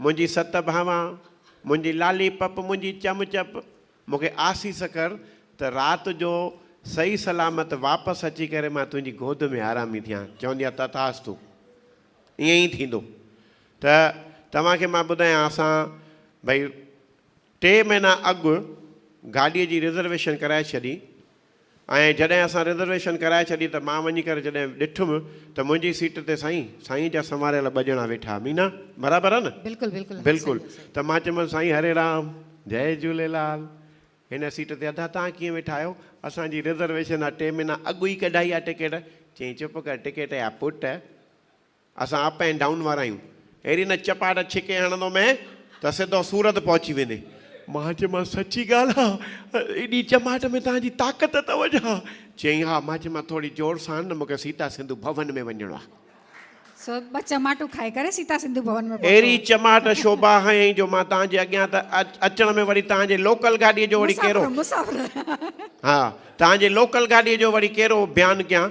منهنجي ست ڀانوان، منهنجي لالي پپ، منهنجي چم چپ، مون کي آسيس ڪر ته رات جو صحيح سلامت واپس اچي ڪري مان تنهنجي گود ۾ آرامي ٿيان. چوندي آ تٿاستو. ائين ئي ٿيندو. ته توهان کي مان ٻڌايان اسان ڀئي ٽي مهينا اڳ گاڏيء جي رزرويشن ڪرائي ڇڏي ۽ جڏهن اسان رزرويشن ڪرائي ڇڏي ته مان وڃي ڪري جڏهن ڏٺم ته منهنجي سيٽ تي سائين سائين جا سنواريل ٻه ڄڻا ويٺا مينا برابر آ نه بلڪل بلڪل بلڪل ته مان چيم سائين هري رام جئي جهوليلال هن سيٽ تي ادا توهان ڪيئن ويٺا آهيو اسان جي رزرويشن آ ٽي مهينا اڳ ئي ڪڍائي آ ٽڪيٽ چيائين چپ ڪر ٽڪيٽ جا پٽ اسان اپ اينڊ ڊائون وارا آهيون. اهڙي نه چپاٽ ڇڪي هڻندو مين ته سڌو سورت پهچي ويندي. مان چيومانس سچي ڳالهه آ؟ ايڏي چماٽ ۾ توهان جي طاقت اٿو ڇا؟ چيائين ها. مان چيومانس ٿوري زور سان نه مون کي سيتا سنڌو ڀون ۾ وڃڻو آ. سو ٻه چماٽون کائي ڪري سيتا سنڌو ڀون ۾ پهتو. اهڙي چماٽ شوڀا هنيائين جو مان توهان جي اڳيان ته اچڻ ۾ وري توهان جي لوڪل گاڏيء جو وڙي ڪهڙو. مسافر مسافر. ها توهان جي لوڪل گاڏيء جو وڙي ڪهڙو بيان ڪيان.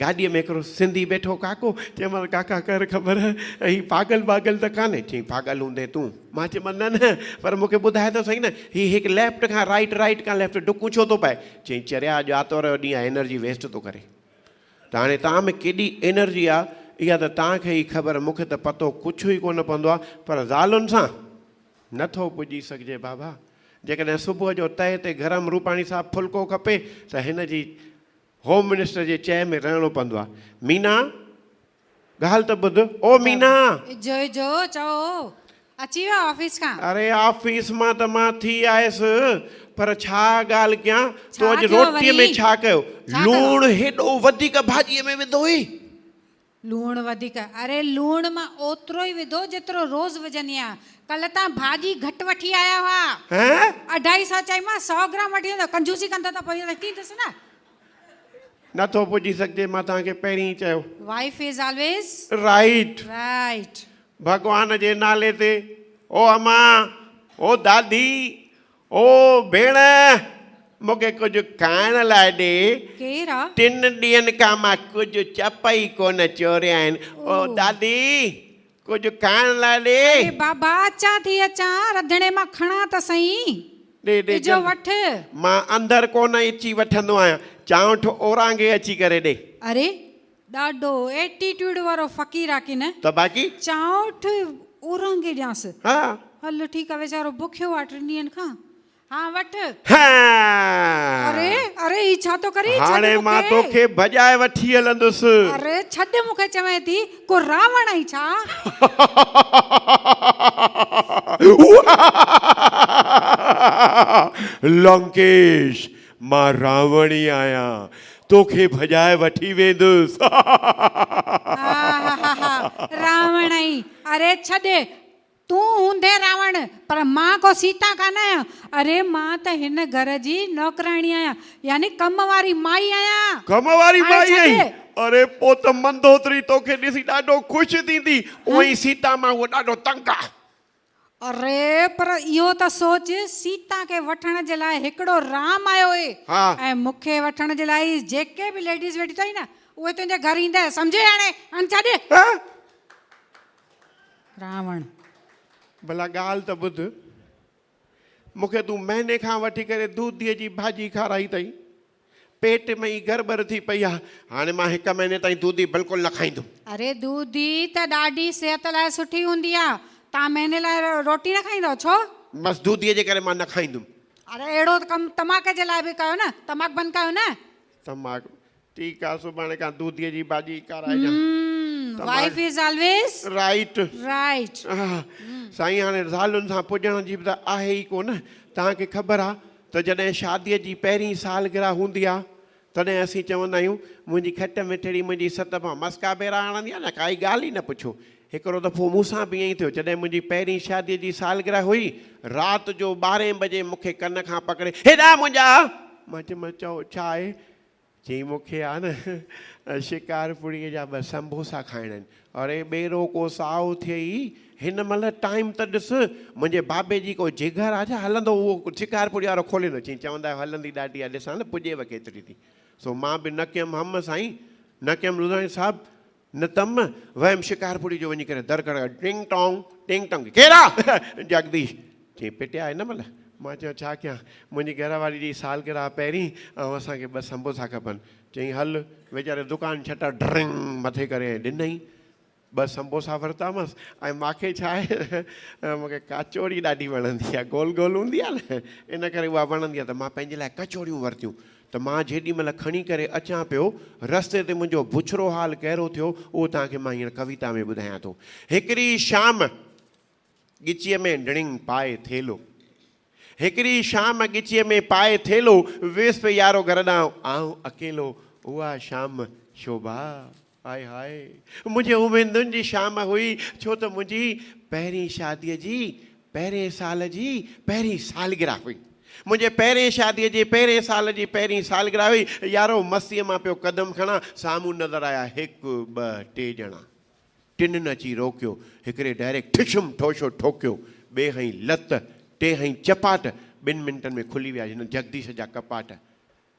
گاڏيء ۾ هڪڙو سنڌي بيٺو ڪاڪو، چيومانس ڪاڪا ڪر خبر هي پاڳل باڳل ته ڪانهي؟ چيائين پاڳل هوندين تون؟ مان چيومانس نه نه پر مون کي ٻڌاء ته سهي نه هي هڪ ليفٽ کان رائيٽ رائيٽ کان ليفٽ ڊڪون ڇو ٿو پائي؟ چيائين چريا اڄ آتوار جو ڏينهن آهي انرجي ويسٽ ٿو ڪرين ته هاڻي توهان ۾ ڪيڏي انرجي آهي اها ته توهان کي ئي خبر مون کي ته پتو ڪڇ ئي ڪونه پوندو آهي پر زالن سان نه ٿو پڄي سگهجي بابا جيڪڏهن صبح جو تئي تي گرم روپاڻي صاحب ڦلڪو کپي ته هن جي هوم منسٽر جي چئي ۾ رهڻو پوندو آهي. مينا! ڳالهه ته ٻڌ او مينا! جو جو چئو هو اچي ويو آفيس کان. اري آفيس مان ته مان ٿي آيس پر ڇا ڳالهه ڪيان تو اڄ روٽي ۾ ڇا ڪيو؟ لوڻ هيڏو وڌيڪ ڀاڄي ۾ وڌو هئي. لوڻ وڌيڪ، اري لوڻ مان اوترو ئي وڌو جيترو روز وجهندي آهيان، ڪلهه تان ڀاڄي گهٽ وٺي آيا هئا، اڍائي سئو چيمانس سئو گرام وٺي ايندو، ڪنجوسي ڪندو ته پوء وٺي ايندس نه. نه ٿو پڄي سگهجي، مان توهان کي پهرين ئي چيو. Wife is always right. Right. Bhagwan جي نالي تي، او امان، او دادي، او ڀيڻ! مون کي ڪجهه کائڻ لاء ڏي. ڪير آ؟ ٽن ڏينهن کان مان ڪجهه چپ ئي ڪونه چوري آهن. او دادي! ڪجهه کائڻ لاء ڏي. اڙي بابا! اچان ٿي اچان، رڌڻي مان کڻان ته سهين. ڏي ڏي اجهو جلدي. وٺ. مان اندر ڪونه اچي وٺندو آهيان. چانئٺ اورانگهي اچي ڪري ڏي. اڙي! ڏاڍو ايٽيٽيوڊ وارو فقير آ ڪنه. ته باقي. چانئٺ اورانگي ڏيانس. ها. هل ٺيڪ آ ويچارو بکيو آ ٽن ڏينهن کان. ها وٺ. هاا. اري اري هي ڇا ٿو ڪرين ڇڏ مون کي. هاڻي مان توکي ڀڄائي وٺي هلندس. اري ڇڏ مون کي چوين ٿي ڪو راوڻ آهين ڇا. لنڪيش مان راوڻي آهيان توکي ڀڄائي وٺي ويندس. هاهاهاها راوڻ ائي اري ڇڏ تون هوندين راوڻ پر مان ڪو سيتا ڪانه آهيان اري مان ته هن گهر جي نوڪراڻي آهيان يعني ڪم واري مائي آهيان ڪم واري هاڻي مائي ڇڏ. آهين اري پو ته مندوتري توکي ڏسي ڏاڍو خوش ٿيندي اوهين سيتا مان هوء ڏاڍو تنگ آهي. اري پر اهو ته سوچ سيتا کي وٺڻ جي لاء هڪڙو رام آيو هئي ۽ مون کي وٺڻ جي لاء جيڪي به ليڊيز ويٺيون اٿئي نه اهي تنهنجي گهر ايندئي سمجهي هاڻي هاڻي ڇڏ راوڻ ڀلا ڳالهه ته ٻڌ مون کي تون مهيني کان وٺي ڪري دوديء جي ڀاڄي کارائي اٿئي پيٽ ۾ ئي ڳر ٻر ٿي پئي آهي. هاڻي مان هڪ مهيني تائين دودي بلڪل نه کائيندم. اري دودي ته ڏاڍي صحت لاء سٺي هوندي آ. توهان مهيني لاء روٽي نه کائيندؤ ڇو؟ بس دودي جي ڪري مان نه کائيندم. اري اهڙو ڪم تماڪ جي لاء به ڪيو نه. تماڪ بند ڪيو نه. تماڪ ٺيڪ آ سڀاڻي کان دودي جي ڀاڄي ئي کارائجان. Hmm wife is always right. Right. سائين هاڻي زالن سان پڄڻ جي به ته آهي ئي ڪونه. توهان کي خبر آ. ته جڏهن شاديء جي پهرين سالگرهه هوندي آ، تڏهن اسين چوندا آهيون، منهنجي کٽ مٺڙي منهنجي ست مان مسڪا ڀيرا هڻندي آ نه، ڪائي ڳالهه ئي نه پڇو. هڪڙو دفعو مون سان به ائين ئي ٿيو، جڏهن منهنجي پهرين شاديء جي سالگرهه هئي، رات جو ٻارهين بجي مون کي ڪن کان پڪڙي، هيڏانهن منهنجا! مان چيمانس، چئو، ڇا آهي؟ چيائين مون کي آ نه شڪارپوريء جا ٻه سنبوسا کائڻا آهن. اڙي ٻيرو ڪو سائو ٿئي ئي هن مهل ٽائيم ته ڏس. منهنجي بابي جي ڪو جگر آ ڇا هلندو اهو شڪارپوري وارو کولي نه چيائين چوندا آهيو هلندي ڏاڍي آ ڏسان ته پڄيو ڪيتري ٿي. سو مان به نه ڪيم هم سائين نه ڪيم لڌاڻي صاحب نه تم ويم شڪارپوري جو وڃي ڪري در کڙڪايو ٽنگ ٽانگ ٽنگ ٽانگ ڪير آ؟ جڳديش چيائين پٽيا هن مهل؟ مان چيو ڇا ڪيان منهنجي گهر واري جي سالگرهه آ پهرين ۽ اسان کي ٻه سمبوسا کپن چيائين هل ويچاري دڪان شٽر ڊرنگ مٿي ڪري ۽ ڏنائين ٻه سمبوسا ورتامس ۽ ماکي ڇا آهي مونکي ڪاچوڙي ڏاڍي وڻندي آ گول گول هوندي آ نه ان ڪري اها وڻندي آ ته مان پنهنجي لاء ڪچوڙيون ورتيون ته مان جيڏي مهل کڻي ڪري اچان پيو، رستي تي منهنجو بڇرو حال ڪهڙو ٿيو، اهو توهان کي مان هينئر ڪويتا ۾ ٻڌايان ٿو. هڪڙي شام ڳچيء ۾ ڊڻنگ پائي ٿيلهو هڪڙي شام ڳچيء ۾ پائي ٿيلهو ويس پئي يارو گهر ڏانهن آئون اڪيلو اها شام شوڀا. هاء هاء منهنجي اميدن جي شام هئي ڇو ته منهنجي پهرين شادي جي پهرين سال جي پهرين سالگره هئي منهنجي پهرين شادي جي پهرين سال جي پهرين سالگره هئي يارو مستيء مان پيو قدم کڻا سامهون نظر آيا هڪ ٻه ٽي ڄڻا ٽنن اچي روڪيو هڪڙي ڊائريڪٽ ٺشم ٺوشو ٺوڪيو ٻئي هنئي لت ٽي هنئي چپاٽ ٻن منٽن ۾ کلي ويا جنن جگديش جا ڪپاٽ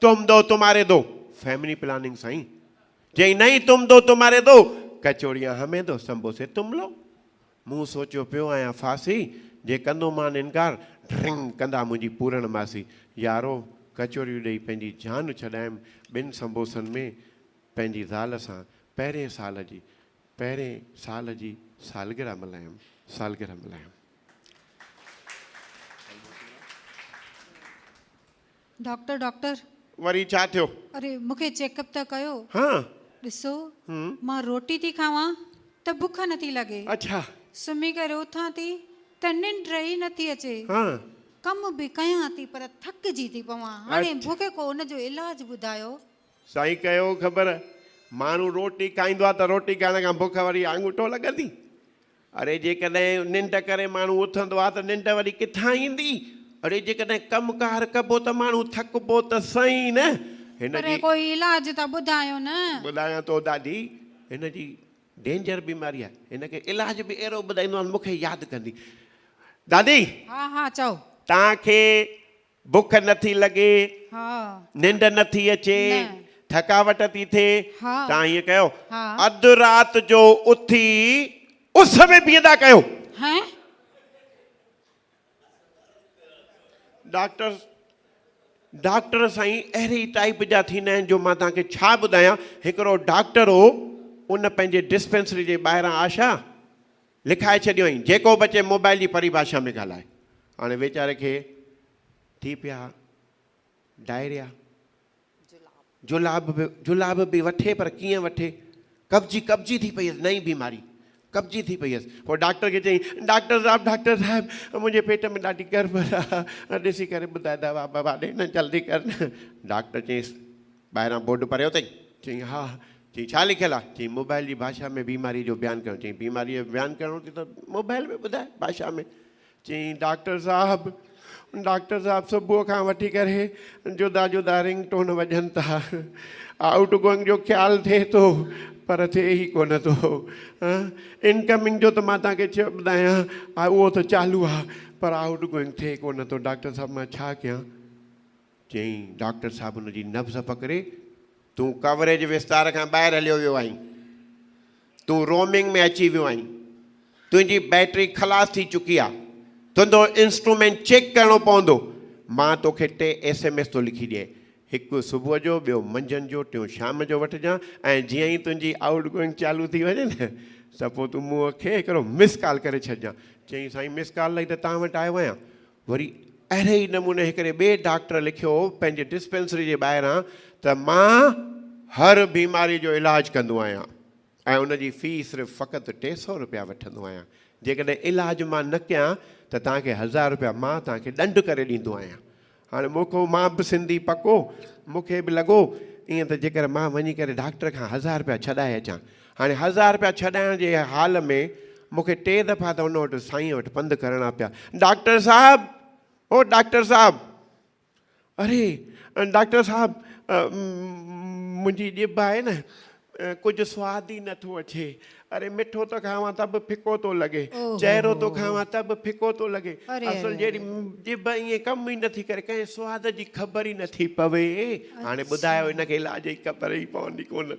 تم دو تمهاري دو فيملي پلاننگ سائين چيائين نهين تم دو تمهاري دو ڪچوريان همين دو سمبوسي تم لو مون سوچيو پيو آهيان ڦاسي جي ڪندو مان انڪار ڊرنگ ڪندا منهنجي پورڻ ماسي يارو ڪچوريون ڏئي پنهنجي جان ڇڏايم ٻن سمبوسن ۾ پنهنجي زال سان پهرين سال جي پهرين سال جي سالگرهه ملهايم سالگرهه ملهايم. Doctor doctor. وري ڇا ٿيو؟ اري مونکي چيڪ اپ ته ڪيو. ها. ڏسو مان روٽي ٿي کاوان ته بک نٿي لڳي. اڇا. سمهي ڪري اٿان ٿي ته ننڊ ئي نٿي اچي. ها. ڪم به ڪيان ٿي پر ٿڪجي ٿي پوان. هاڻي مونکي ڪو ان جو علاج ٻڌايو. سائين ڪيو خبر ماڻهو روٽي کائيندو آ ته روٽي کائڻ کان بک وري آڱوٺو لڳندي. اڙي جيڪڏهن ننڊ ڪري ماڻهو اٿندو آهي ته ننڊ وري ڪٿان ايندي؟ اڙي جيڪڏهن ڪم ڪار ڪبو ته ماڻهو ٿڪبو ته سهين نه! هن جي. ڪوئي علاج ته ٻڌايو نه. ٻڌايان ٿو دادي، هن جي ڊينجر بيماري آهي، هن کي علاج به اهڙو ٻڌائيندومانس مون کي ياد ڪندي. دادي! ها ها چئو. توهان کي بک نه ٿي لڳي، ننڊ نه ٿي اچي، ٿڪاوٽ ٿي ٿئي، توهان ائين ڪيو، اڌ رات جو اٿي اس ۾ بيهندا ڪيو. ڊاڪٽر، ڊاڪٽر سائين اهڙي ٽائيپ جا ٿيندا آهن جو مان توهان کي ڇا ٻڌايان، هڪڙو ڊاڪٽر هو، ان پنهنجي ڊسپينسري جي ٻاهران آشا، لکائي ڇڏيوئين، جيڪو به اچي موبائل جي پريڀاشا ۾ ڳالهائي. هاڻي ويچاري کي ٿي پيا ڊائريا، جلاب به جلاب به وٺي پر ڪيئن وٺي، قبضي قبضي ٿي پئي هيس، نئين بيماري، قبضي ٿي پئي هيس. پوء ڊاڪٽر کي چيائين، ڊاڪٽر صاحب، ڊاڪٽر صاحب، منهنجي پيٽ ۾ ڏاڍي گڙٻڙ آ، ڏسي ڪري ٻڌاء دوا بوا ڏي نه، جلدي ڪر نه. ڊاڪٽر چيس. ٻاهران بورڊ پريو اٿئي؟ چيائين، ها. چيائين، ڇا لکيل آ؟ چيائين، موبائل جي ڀاشا ۾ بيماريء جو بيان ڪرڻ. چيائين، بيماريء جو بيان ڪرڻو اٿئي ته موبائل ۾ ٻڌاء، ڀاشا ۾. چيائين، ڊاڪٽر صاحب! ڊاڪٽر صاحب! صبح کان وٺي ڪري جدا جدا رنگ ٽون وڄن ٿا. آئوٽ گوئنگ جو خيال ٿئي ٿو، پر ٿئي ئي ڪونه ٿو. ان ڪمنگ جو ته مان توهان کي ڇا ٻڌايان، اهو ته چالو آ، پر آئوٽ گوئنگ ٿئي ڪونه ٿو. ڊاڪٽر صاحب! مان ڇا ڪيان؟ چيائين، ڊاڪٽر صاحب هن جي نبض پڪڙي، تون ڪوريج وستار کان ٻاهر هليو ويو آهين. تون رومنگ ۾ اچي ويو آهين. تنهنجي بيٽري خلاص ٿي چڪي آهي. تنهنجو انسٽرومينٽ چيڪ ڪرڻو پوندو. مان توکي ٽي ايس ايم ايس ٿو لکي ڏيئين. هڪ صبح جو، ٻيو منجهند جو، ٽيون شام جو وٺجان ۽ جيئن ئي تنهنجي آئوٽ گوئنگ چالو ٿي وڃي نه ته پوء تون مون کي هڪڙو مس ڪال ڪري ڇڏجان. چيائين، سائين مس ڪال لاء ئي ته توهان وٽ آيو آهيان. وري اهڙي ئي نموني هڪڙي ٻئي ڊاڪٽر لکيو هو پنهنجي ڊسپينسري جي ٻاهران ته مان هر بيماري جو علاج ڪندو آهيان ۽ ان جي في صرف فقط ٽي سئو رپيا وٺندو آهيان جيڪڏهن علاج مان نه ڪيان ته توهان کي هزار رپيا مان توهان کي ڏنڊ ڪري ڏيندو آهيان هاڻي موکو مان به سنڌي پڪو مون کي به لڳو ائين ته جيڪر مان وڃي ڪري ڊاڪٽر کان هزار رپيا ڇڏائي اچان هاڻي هزار رپيا ڇڏائڻ جي حال ۾ مون کي ٽي دفعا ته ان وٽ سائينء وٽ پنڌ ڪرڻا پيا. ڊاڪٽر صاحب! او ڊاڪٽر صاحب! اري ڊاڪٽر صاحب! منهنجي ڄڀ آهي نه، ڪجهه سواد ئي نه ٿو اچي. اري مٺو ٿو کائان ته به ڦڪو ٿو لڳي. چهرو ٿو کائان ته به ڦڪو ٿو لڳي. اصل جهڙي ڄڀ ائين ڪم ئي نه ٿي ڪري. ڪنهن سواد جي خبر ئي نه ٿي پوي. هاڻي ٻڌايو هن کي علاج جي خبر ئي پوندي ڪونه.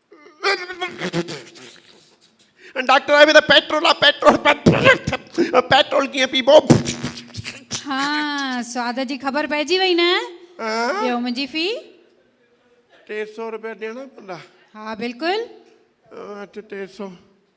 ڊاڪٽر آهي ته پيٽرول آ پيٽرول پيٽرول ڪيئن پيبو ها سواد جي خبر پئجي وئي نه ڏيو منهنجي في ٽي سو روپيا ڏيڻا پوندا ها بلڪل ٽي سو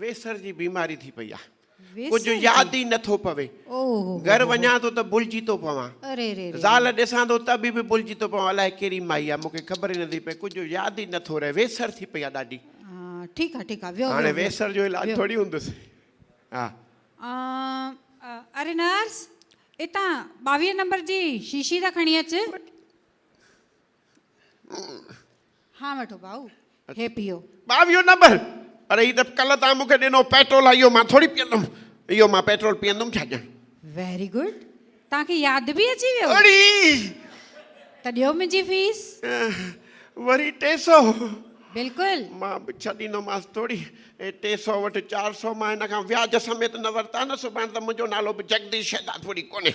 ويسر جي بيماري ٿي پئي آهي. ڪجهه ياد ئي نه ٿو پوي. گهر وڃان ٿو ته ڀلجي ٿو پوان. زال ڏسان ٿو ته به ڀلجي ٿو پوان الاء ڪهڙي مائي آهي مون کي خبر ئي نه ٿي پئي ڪجهه ياد ئي نه ٿو رهي ويسر ٿي پئي آهي ڏاڍي. هاڻي ويسر جو علاج ٿوري هوندس. اري نرس اتان ٻاويهه نمبر جي شيشي ته کڻي اچ. ها وٺو ڀائو هي پيو. ٻاويهون نمبر، پر هي ته ڪلهه توهان مون کي ڏنو پيٽرول آهي اهو مان ٿوري پيئندم. اهو مان پيٽرول پيئندم ڇا ڄڻ. ويري گڊ توهان کي ياد به اچي ويو. اڙي! ته ڏيو منهنجي فيس. وري ٽي سو. بلڪل. مان به ڇهه ڏيندومانس ٿوري. هي ٽي سو وٺ چار سو مان هن کان وياج سميت نه ورتا نه سڀاڻ ته منهنجو نالو به جگديش شهدادپوري ڪونهي.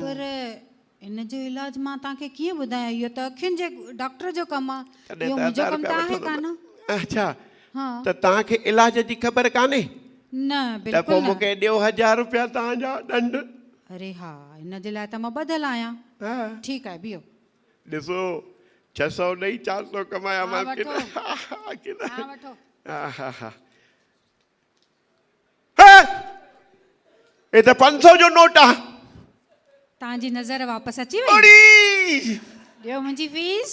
پر ان جو علاج مان توهان کي ڪيئن ٻڌايان اهو ته اکين جي ڊاڪٽر جو ڪم آ اهو منهنجو ڪم ته آهي ڪانه. اڇا ته توهان کي علاج جي خبر ڪانهي؟ نه بلڪل نه. ته پوء مون کي ڏيو هزار روپيا توهان جا ڏنڊ. اري ها ان جي لاء ته مان ٻڌل آهيان. ٺيڪ آهي بيهو. ڏسو ڇهه سؤ ڏئي چار سؤ ڪمايامانس ڪي نه. ها وٺو. ها وٺو. ها ها ها. هي ته پنج سو جو نوٽ آ. تان جي نظر واپس اچي وئي. اڙي! ڏيو منهنجي فيس.